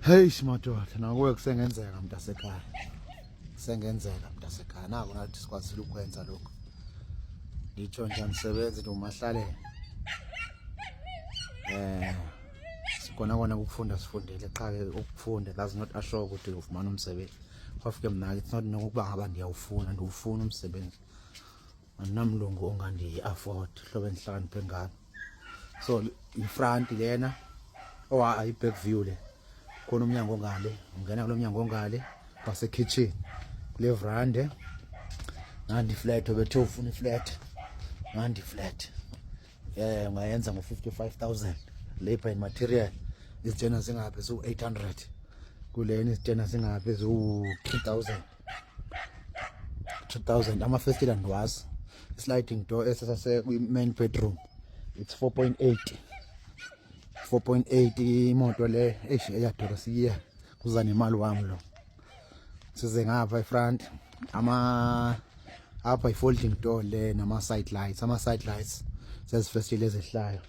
Hey madoda, nakuwe kusengenzeka mntasekhaya. Kusengenzeka mntasekhaya. Naku nathi sikwazile ukwenza lokho. Ngitsho nje msebenzi ndomahlalela. Eh sikona kona ukufunda sifundele qha ke ukufunda that's not a show ukuthi ufumana umsebenzi. Kwafuke mna it's not nokuba ngaba ndiyawufuna ndiwufuna umsebenzi. andinamlungu ongandiyi-afford hlobo endihlakaniphe ngalo so yifranti lena owa oh, ayi-back view le khona umnyango ongale ungena kulo mnyango ongale wasekitchen kule vrande ngandiflat obethe ufuna iflat ngandiflat um ungayenza ngo-fifty-five thousand labor and material izitshena zingaphi ziwu-eight hundred kulena izitshena zingaphi ziwu-three thousand 2000 amafestile ndiwazi isliding door esasase kwi-main bedroom it's 4.8 4.8 imoto le eish eyadura siye kuza nemali wam lo size ngapha ifront ama apha i-folding door le nama-side lights ama-side lights zezifestile ezehlayo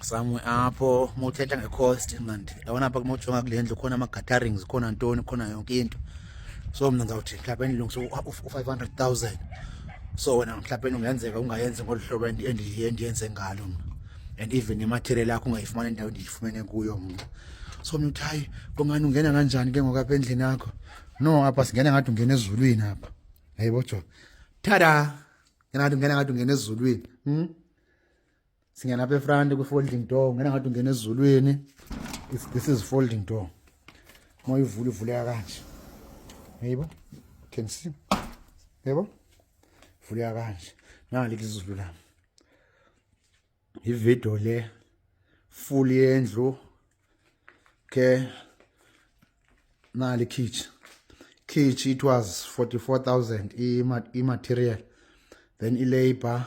samwe apho uma uthetha nge-cost mandi yabona apha kuma ujonga kule ndlu khona ama-gatherings khona ntoni khona yonke into so mna ndizawuthi mhlawumbi endilungisa u-five hundred thousand so wena mhlawumbi ungenzeka ungayenzi ngolu hlobo endiyenze ngalo mna and even imaterial yakho ungayifumani endawo ndiyifumene kuyo mna so mna uthi hayi kungani ungena kanjani ke ngoku apha endlini yakho no apha singena ngathi ungena ezulwini apha yayibo jo tada ngena ngathi ungena ngathi ungena ezulwini hmm? singena apha efront kwi-folding door ungena ngathi ungena ezulwini this is folding door moyivula ivuleka kanje yayibo can see yebo vuleka kanje nangalithi izulu lami ividiyo le full yendlu ke nali khitshi khitshi it was 44000 i-material then i-labor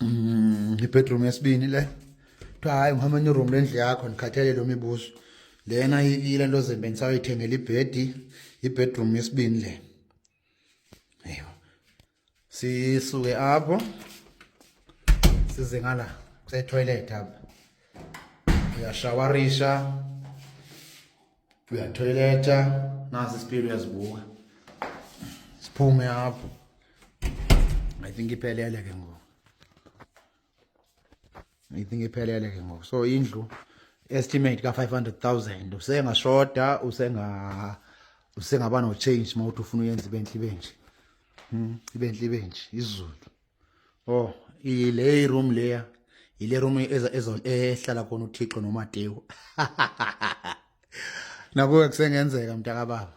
Mm, ibedroom yesibini le kuthiwa hayi ngihamba enye iroom lendlu yakho ndikhathele lo mibuzo lena ile nto zembe ndisawuyithengela ibhedi ibedroom yesibini le eyo sisuke apho size ngala kusetoilet apha uyashawarisha uyatoileta nazi spiri uyazibuka siphume apho i think iphelele ke ngoku i think iphelele ke ngoku so indlu estimate ka-500000 usengashota usenga usengaba no-change uma uthi ufuna uyenza ibentle ibenje hmm, ibentle ibenje izulu Oh, ile iroom leya. Ile room eza ezo ehlala khona uThixo noMatewu. Nakuwe kusengenzeka mntaka baba.